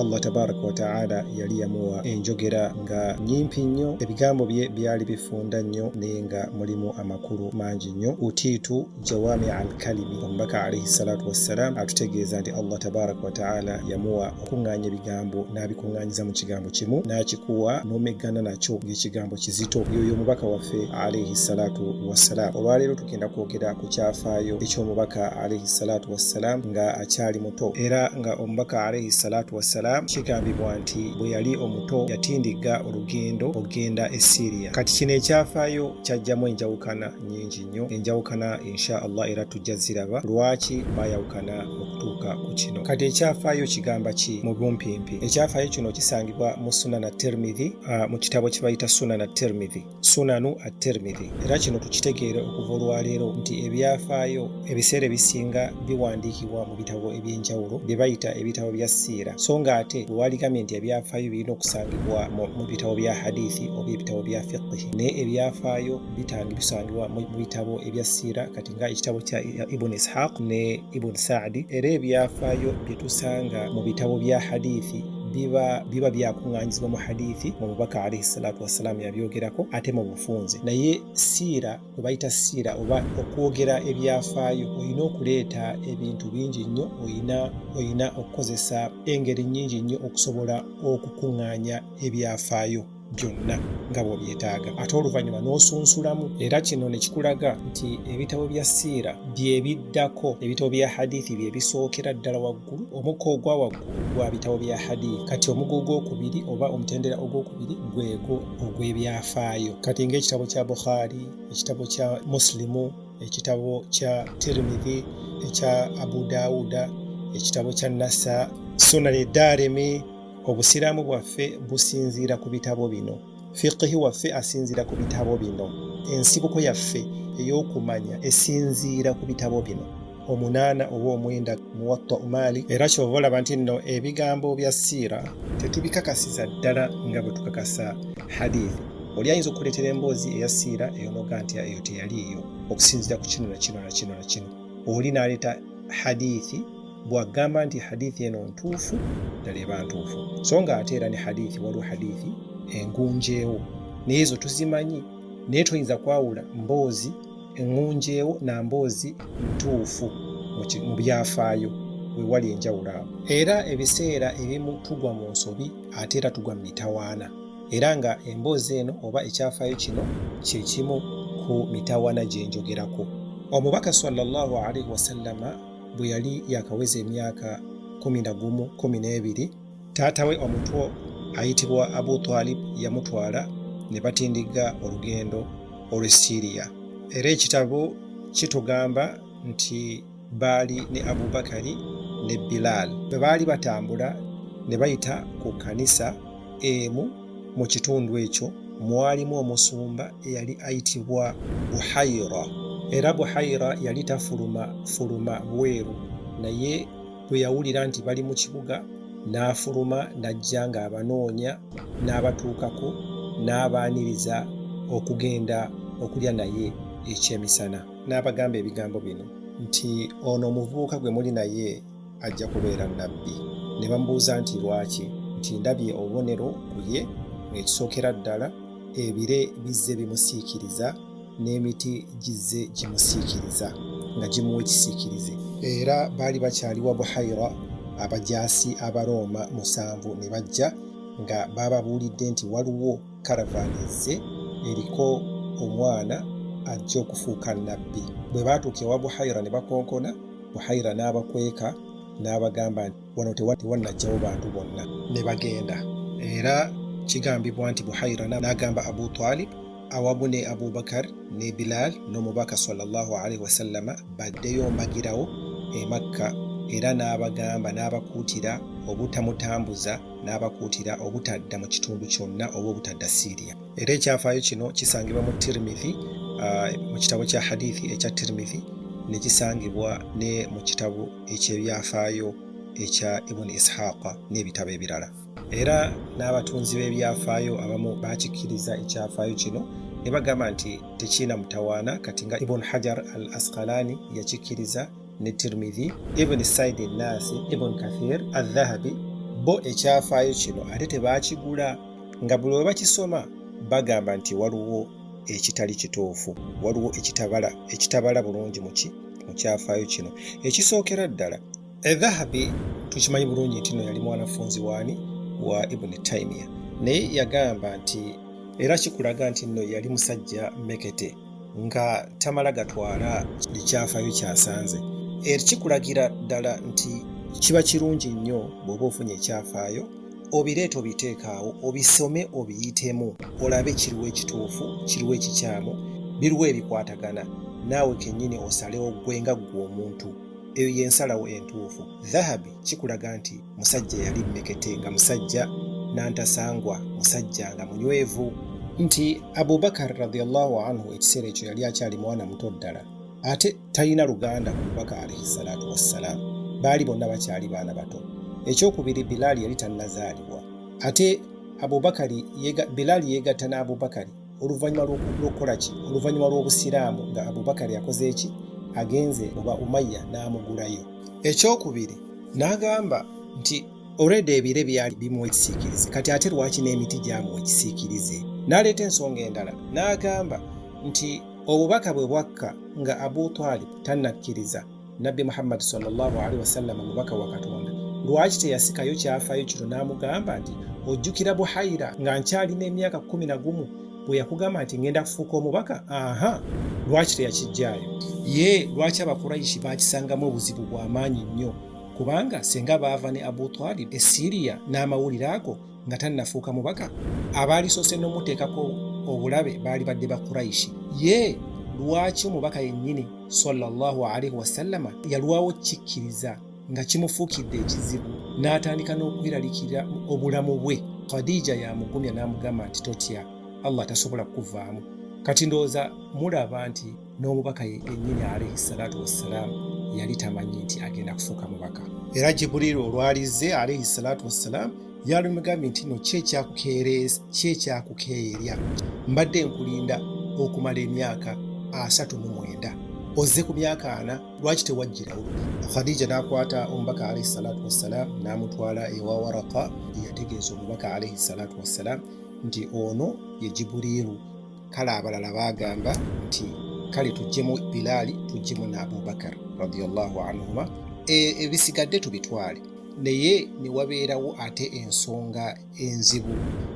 Allah tabaraka wa taala yali yamuwa enjogera nga nyimpi nnyo ebigambo bye byali bifunda nnyo naye nga mulimu amakulu mangi nnyo utiitu jawami al kalimi omubaka alaihi salatu wassalam atutegeeza nti Allah tabaraka wa taala yamuwa okuŋŋaanya ebigambo n'abikuŋŋaanyiza mu kigambo kimu n'akikuwa n'omeggana nakyo ng'ekigambo kizito yoyo omubaka waffe alaihi salatu wassalam olwaleero tugenda kwogera ku kyafaayo eky'omubaka alaihi salatu wassalam nga akyali omuto era nga omubaka alaihi salatu wassalam kigambibwa nti bwe yali omuto yatindigga olugendo okugenda e siriya kati kino ekyafaayo kyajjamu enjawukana nyingi nnyo enjawukana insha allah era tujja ziraba lwaki baayawukana okutuuka ku kino kati ekyafaayo kigamba ki mu bumpimpi ekyafaayo kino kisangibwa mu sunana termidhi ah, mu kitabo kye bayita sunana termidhi sunanu at-tirmidhi era kino tukitegeere okuva olwaleero nti ebyafaayo ebiseera ebisinga biwandiikibwa mu bitabo ebyenjawulo bye bayita ebitabo bya siira so nga ate wewaligambye nti ebyafaayo birina okusangibwa mu bitabo bya hadithi oba ebitabo bya fiqhi naye ebyafaayo bitangi bisangibwa mu bitabo ebya siira kati nga ekitabo kya ibun ishaq ne ibun saadi era ebyafaayo bye tusanga mu bitabo bya hadithi biba biba byakuŋŋanyizibwa mu hadithi mu bubaka alaihi salatu wassalaamu yabyogerako ate mu bufunze naye siira gwe bayita siira oba okwogera ebyafaayo olina okuleeta ebintu bingi nnyo olina olina okukozesa engeri nnyingi nnyo okusobola okukuŋŋaanya ebyafaayo byonna nga bw'obyetaaga ate oluvannyuma n'osunsulamu era kino ne kikulaga nti ebitabo bya siira bye biddako ebitabo bya hadithi bye bisookera ddala waggulu omukka ogwa waggulu gwa bitabo bya hadithi kati omugo ogwokubiri oba omutendera ogwokubiri gwego ogw'ebyafaayo kati ng'ekitabo kya bukhari ekitabo kya musilimu ekitabo kya tirimidhi ekya abu daawuda ekitabo kya nasa sunani daarimi obusiraamu bwaffe businziira ku bitabo bino fiqihi waffe asinziira ku bitabo bino ensibuko yaffe ey'okumanya esinziira ku bitabo bino omunaana oba omwenda muwatta umaali era kyova olaba nti nno ebigambo bya siira tetubikakasiza ddala nga bwe tukakasa hadithi oli ayinza okukuleetera emboozi eya siira eyonoga nti eyo teyaliiyo okusinziira ku kino na kino na kino na kino oli n'aleeta hadithi bwagamba nti hadithi eno ntuufu ddala eba ntuufu so nga ate era ne hadithi waliwo hadithi engunjeewo naye ezo tuzimanyi naye toyinza kwawula mboozi engunjeewo na mboozi ntuufu mu byafaayo wewali enjawulo awo era ebiseera ebimu tugwa mu nsobi ate era tugwa mu mitawaana era nga emboozi eno oba ekyafaayo kino kyekimu ku mitawaana gyenjogerako omubaka sallallahu alaihi wasallama bwe yali yakaweza emyaka kumi na gumu kumi n'ebiri taata we omutwo ayitibwa abu twalib yamutwala ne batindigga olugendo olw'e siriya era ekitabo kitugamba nti baali ne abubakari ne bilaal bwe baali batambula ne bayita ku kanisa emu mu kitundu ekyo mwalimu omusumba eyali ayitibwa buhaira era buhaira yali tafuluma fuluma bweru naye bwe yawulira nti bali mu kibuga n'afuluma n'ajja ng'abanoonya n'abatuukako n'abaaniriza okugenda okulya naye ekyemisana n'abagamba ebigambo bino nti ono omuvubuka gwe muli naye ajja kubeera nabbi ne bamubuuza nti lwaki nti ndabye obubonero ku ye ekisookera ddala ebire bizze bimusiikiriza n'emiti gizze gimusiikiriza nga gimuwa ekisiikirize era baali bakyali wa buhaira abajaasi abarooma musanvu ne bajja nga baababuulidde nti waliwo karavaani ezze eriko omwana ajja okufuuka nabbi bwe baatuuka ewa buhaira ne bakonkona buhaira n'abakweka n'abagamba nti wano tewannajjawo bantu bonna ne bagenda era kigambibwa nti buhaira n'agamba abu talib awamu ne abubakar ne bilal n'omubaka salllah alaihi wasallama baddeyo mbagirawo emakka era n'abagamba n'abakuutira obutamutambuza n'abakuutira obutadda mu kitundu kyonna oba obutadda siriya era ekyafaayo kino kisangibwa mu tirimithi uh, mu kitabo kya hadithi ekya tirimithi nekisangibwa ne mu kitabo ekyebyafaayo ekya ibuni ishaqa n'ebitabo ebirala era n'abatunzi b'ebyafaayo abamu bakikkiriza ekyafaayo kino ne bagamba nti tekiina mutawaana kati nga ibuni hajar al askalani yakikkiriza ne tirmidhi ibuni saidi nasi ibuni kathir adhahabi bo ekyafaayo kino ate tebaakigula nga buli we bakisoma bagamba nti waliwo ekitali kituufu waliwo ekitabala ekitabala bulungi muki mu kyafaayo kino ekisookera ddala edhahabi tukimanyi bulungi nti no yali mwanafunzi waani wa ibuni taimiya naye yagamba nti era kikulaga nti nno yali musajja mekete nga tamala gatwala kiri kyafayo kyasanze ekikulagira ddala nti kiba kirungi nnyo bw'oba ofunye ekyafaayo obireeta obiteekaawo obisome obiyitemu olabe kiriwo ekituufu kiriwo ekikyamu biriwo ebikwatagana naawe kennyini osalewo ggwe nga ggwe omuntu eyo y'ensalawo entuufu dhahabi kikulaga nti musajja yali mmekete nga musajja n'antasangwa musajja nga munywevu nti abubakar radiallahu anhu ekiseera ekyo yali akyali mwana muto ddala ate talina luganda ku bubaka alaihi salaatu wassalaamu baali bonna bakyali baana bato ekyokubiri bilaali yali tannazaalibwa ate abubakari bilaali yeegatta n'abubakari oluvannyuma lw'okukola ki oluvannyuma lw'obusiraamu nga abubakari akoze eki agenze oba umayya n'amugulayo ekyokubiri n'agamba nti olwedda ebire byali bimuwa ekisiikirize kati ate lwaki n'emiti gyamuwa ekisiikirize n'aleeta ensonga endala n'agamba nti obubaka bwe bwakka nga abu twalib tannakkiriza nabbi muhammadi sallallahu alaihi wasallama mubaka wa katonda lwaki teyasikayo kyafayo kino n'amugamba nti ojjukira buhaira nga nkyalina emyaka kumi na gumu bwe yakugamba nti ngenda kufuuka omubaka aha lwaki teyakijjaayo ye lwaki abakuraishi bakisangamu obuzibu bw'amaanyi nnyo kubanga senga baava ne abu talib e siriya n'amawulire ago nga tannafuuka mubaka abaalisoose n'omuteekako obulabe baali badde ba kuraishi ye lwaki omubaka yennyini sallallahu alaihi wasallama yalwawo kikkiriza nga kimufuukidde ekizibu n'atandika n'okweralikira obulamu bwe khadija yamugumya n'amugamba nti totya allah tasobola kukuvaamu kati ndowooza mulaba nti n'omubaka yennyini alaihi salatu wassalaamu yali tamanyi nti agenda kufuuka mubaka era jibuliiru olwalizze alaihi salatu wassalaamu yalumugambye nti no kyekyakukeerya mbadde nkulinda okumala emyaka asatu mu mwenda ozze ku myaka ana lwaki tewajjirawo khadija n'akwata omubaka alaihi salatu wassalaamu n'amutwala ewa waraka yategeeza omubaka alaihi salatu wassalaamu nti ono ye jibuliiru kale abalala baagamba nti kale tujjemu bilaali tujjemu ne abubakar radiallahu anhuma e, ebisigadde tubitwale naye ne wabeerawo ate ensonga enzibu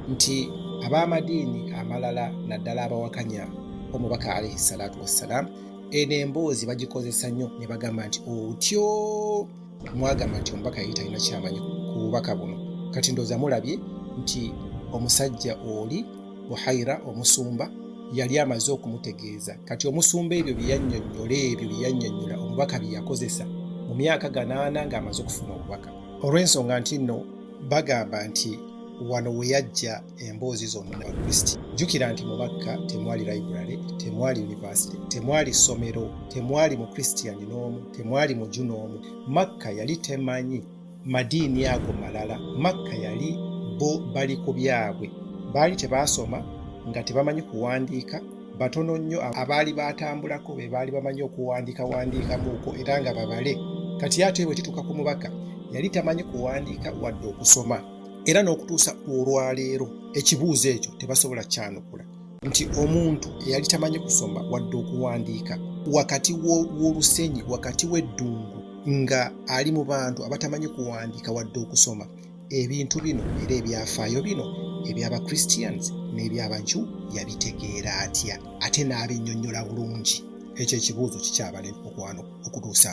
nti ab'amadiini amalala naddala abawakanya omubaka alaihi salaatu wassalaamu eno emboozi bagikozesa nnyo ne bagamba nti otyo mwagamba nti omubaka yali talina kyamanyi ku bubaka buno kati ndooza mulabye nti omusajja oli buhaira omusumba yali amaze okumutegeeza kati omusumba ebyo byeyannyonnyola ebyo byeyannyonnyola omubaka bye yakozesa mu myaka ganaana ng'amaze okufuna obubaka olw'ensonga nti nno bagamba nti wano we yajja emboozi zonna kristi jjukira nti mu makka temwali library temwali university temwali ssomero temwali mu christian n'omu temwali muju n'omu makka yali temanyi madiini ago malala makka yali bo bali ku byabwe baali tebaasoma nga tebamanyi kuwandiika batono nnyo abaali baatambulako be baali bamanyi okuwandiika wandiikamuuko era nga babale kati ate bwe kituuka ku mubaka yali tamanyi kuwandiika wadde okusoma era n'okutuusa olwaleero ekibuuzo ekyo tebasobola kyanukula nti omuntu eyali tamanyi kusoma wadde okuwandiika wakati w'olusenyi wakati w'eddungu nga ali mu bantu abatamanyi kuwandiika wadde okusoma ebintu bino era ebyafaayo bino eby'abachristians n'eby'abanju yabitegeera atya ate n'abinyonyola bulungi ekyo ekibuuzo kikyabalema okwano okutuusa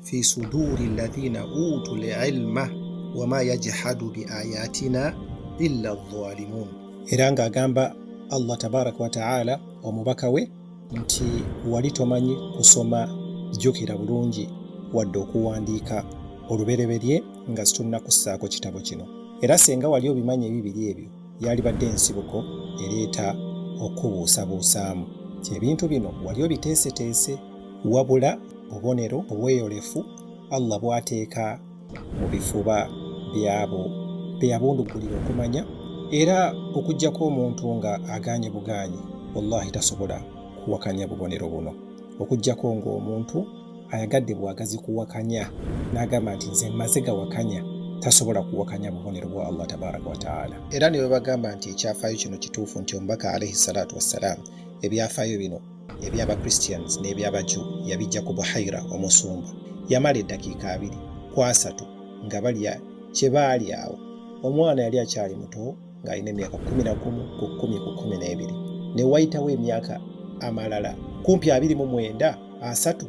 fi suduri alladhina utu lilma wama yajhadu biayatina illa dhalimun era ng'agamba allah tabaraka wataala omubaka we nti wali tomanyi kusoma jjukira bulungi wadde okuwandiika olubereberye nga situlina kussaako kitabo kino era singa wali obimanyi ebibiri ebyo yalibadde ensibuko ereeta okubuusabuusaamu nti ebintu bino wali obiteeseteese wabula bubonero obweyolefu Allah bw'ateeka mu bifuba by'abo be yabunduggulira okumanya era okuggyako omuntu nga agaanye bugaanyi wallahi tasobola kuwakanya bubonero buno okuggyako ng'omuntu ayagadde bwagazi kuwakanya n'agamba nti nze mmaze gawakanya tasobola kuwakanya bubonero bwa allah tabaraka wataala era ne bwe bagamba nti ekyafaayo kino kituufu nti omubaka alaihi salaatu wassalaamu ebyafaayo bino eby'Abakristians n'eby'Abaju yabijja ku Buhaira omusumba. Yamala eddakiika abiri ku asatu nga balya kye baali awo. Omwana yali akyali muto ng'alina emyaka kkumi na gumu ku kkumi ku kkumi n'ebiri. Ne wayitawo emyaka amalala kumpi abiri mu mwenda asatu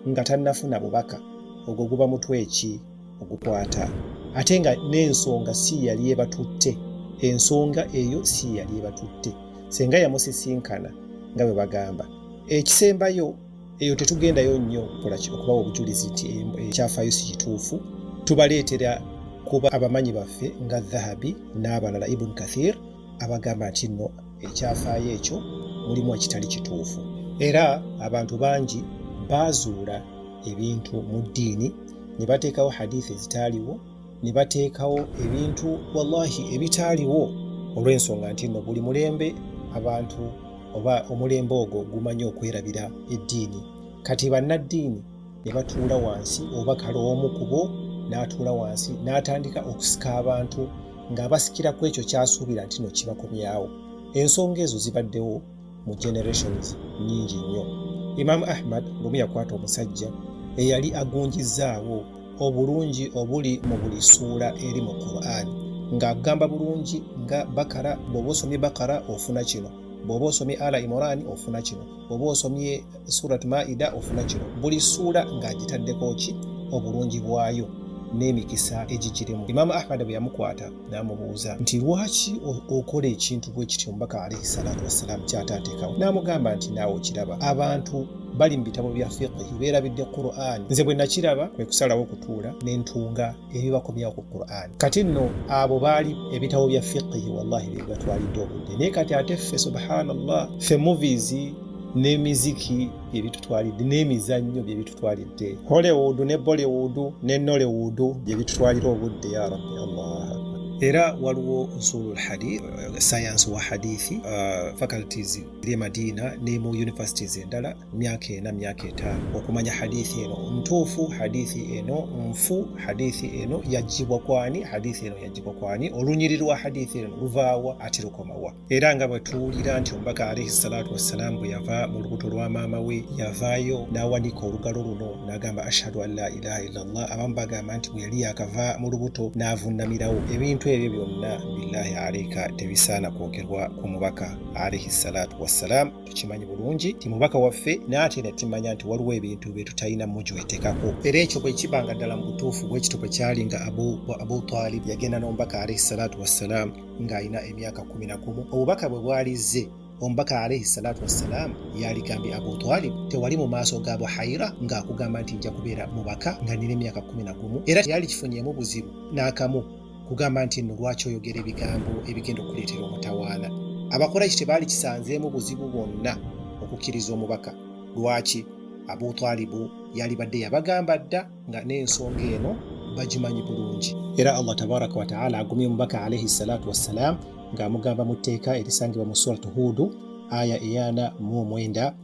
nga tannafuna bubaka. Ogwo guba mutwe ki? ogukwata ate nga n'ensonga si yali ebatutte ensonga eyo si yali ebatutte senga yamusisinkana nga bwe bagamba ekisembayo eyo tetugendayo nnyo kolaki okubawa obujulizi nti ekyafaayo si kituufu tubaleetera kuba abamanyi baffe nga dhahabi n'abalala ibun kathir abagamba nti nno ekyafaayo ekyo mulimu ekitali kituufu era abantu bangi baazuula ebintu mu ddiini ne bateekawo hadithi ezitaaliwo ne bateekawo ebintu wallahi ebitaaliwo olw'ensonga nti nno buli mulembe abantu oba omulembe ogwo gumanyi okwerabira eddiini kati bannaddiini ne batuula wansi oba kale omu kubo n'atuula wansi n'atandika okusika abantu ng'abasikira ku ekyo kyasuubira nti no kibakomyawo ensonga ezo zibaddewo mu generations nyingi nnyo imaamu ahmad lumu yakwata omusajja eyali agunjizzaawo obulungi obuli mu buli ssuula eri mu qur'an ng'agamba bulungi nga bakara bw'oba osomye bakara ofuna kino bw'oba osomye ala imorani ofuna kino oba osomye surat maida ofuna kino buli suula ng'agitaddeko ki obulungi bwayo n'emikisa egigirimu imaama ahmada bwe yamukwata n'amubuuza nti lwaki okola ekintu bwe kityo omubaka alaihi salaatu wassalaamu kyataateekawo n'amugamba nti naawe okiraba abantu bali mu bitabo bya fiqihi beerabidde qur'an nze bwe nakiraba kwe kusalawo okutuula ne ntunga ebibako byaku quran kati nno abo baali ebitabo bya fiqihi wallahi byebibatwalidde obudde naye kati ate ffe subhanallah ffe movies n'emiziki byebitutwalidde n'emizannyo byebitutwalidde hollywood ne bollywood ne nollywood byebitutwalira obudde ya rabbi allah era waliwo usulul hadith science wa hadithi uh, faculties eri emadina ne mu universities endala myaka ena myaka etaano okumanya hadithi eno ntuufu hadithi eno nfu hadithi eno yajjibwa kwani hadithi eno yajjibwa kwani olunyiri lwa hadithi eno luvaawa ati lukomawa era nga bwe tuwulira nti omubaka alaihi salatu wassalaamu bwe yava mu lubuto lwa maama we yavaayo n'awanika olugalo luno n'agamba ashhadu an la ilaha illallah abamu bagamba nti bwe yali yakava mu lubuto n'avunnamirawo ebintu ebyo byonna billahi alaika tebisaana kwogerwa ku mubaka alaihi salatu wassalaamu tukimanyi bulungi nti mubaka waffe naate ne tumanya nti waliwo ebintu bye tutalina mujwetekako era ekyo bwe kiba nga ddala mu butuufu bwekito bwe kyali nga abu, abu talib yagenda n'omubaka alaihi salatu wassalaamu ng'alina emyaka kumi na gumu obubaka bwe bwalizze omubaka alaihi salatu wassalaamu yaligambye abu talib tewali mu maaso ga buhaira ng'akugamba nti nja kubeera mubaka nga nina emyaka kumi na gumu era yali kifunyeemu buzibu n'akamu kugamba nti nno lwaki oyogera ebigambo ebigenda okuleetera omutawaana abakuraishi tebaali kisanzeemu buzibu bwonna okukkiriza omubaka lwaki abu talibu yalibadde yabagamba dda nga n'ensonga eno bagimanyi bulungi era allah tabaraka wataala agumye omubaka alaihi salatu wassalaamu ng'amugamba mu tteeka erisangibwa mu surat huudu aya eyana mu omwenda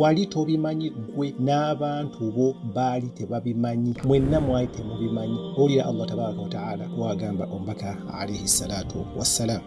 wali tobimanyi gwe n'abantu bo baali tebabimanyi mwenna mwali temubimanyi owulira allah tabaraka wataala wagamba omubaka alaihi salatu wassalaamu